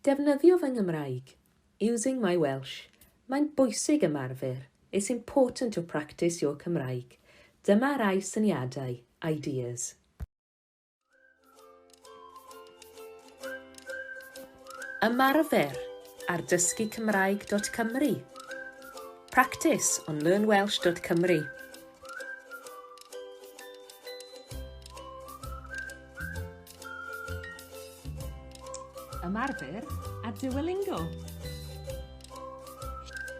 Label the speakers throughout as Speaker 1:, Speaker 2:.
Speaker 1: Defnyddio fy Nghymraeg, using my Welsh, Mae'n bwysig ymarfer, it's important to practice your Cymraeg, Dyma rai syniadau, ideas. Ymarfer ar dysgucymraeg.cymru Practice on learnwelsh.cymru Ymarfer a Duolingo.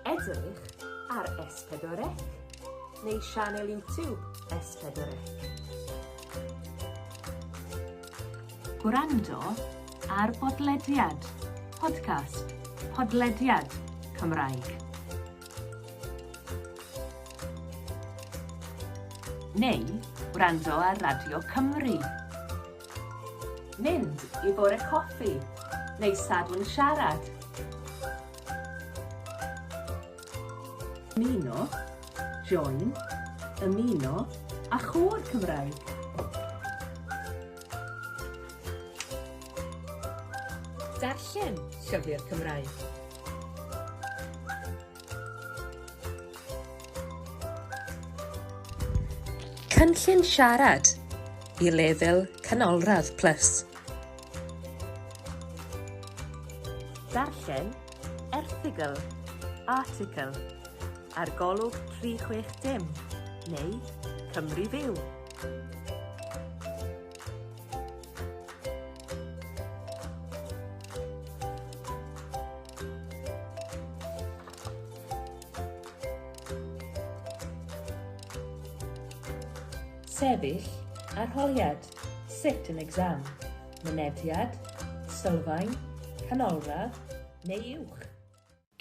Speaker 1: Edrych ar S4C neu sianel YouTube S4C. Gwrando ar bodlediad, podcast, podlediad, Cymraeg. Neu wrando ar Radio Cymru. Mynd i Bore Coffi neu Sadwrn Siarad. Ymuno, join, ymuno a chôr Cymraeg. Darllen llyfr Cymraeg. Cynllun Siarad i lefel Canolradd Plus. Darllen erthygl, article, ar golwg 360 neu Cymru Fyw. sefyll, arholiad, sit an exam, mynediad, sylfaen, canolradd neu uwch.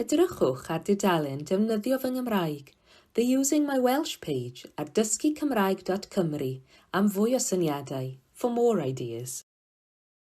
Speaker 1: Edrychwch ar dudalen Defnyddio fy Nghymraeg, The Using My Welsh page ar dysgucymraeg.cymru am fwy o syniadau, for more ideas.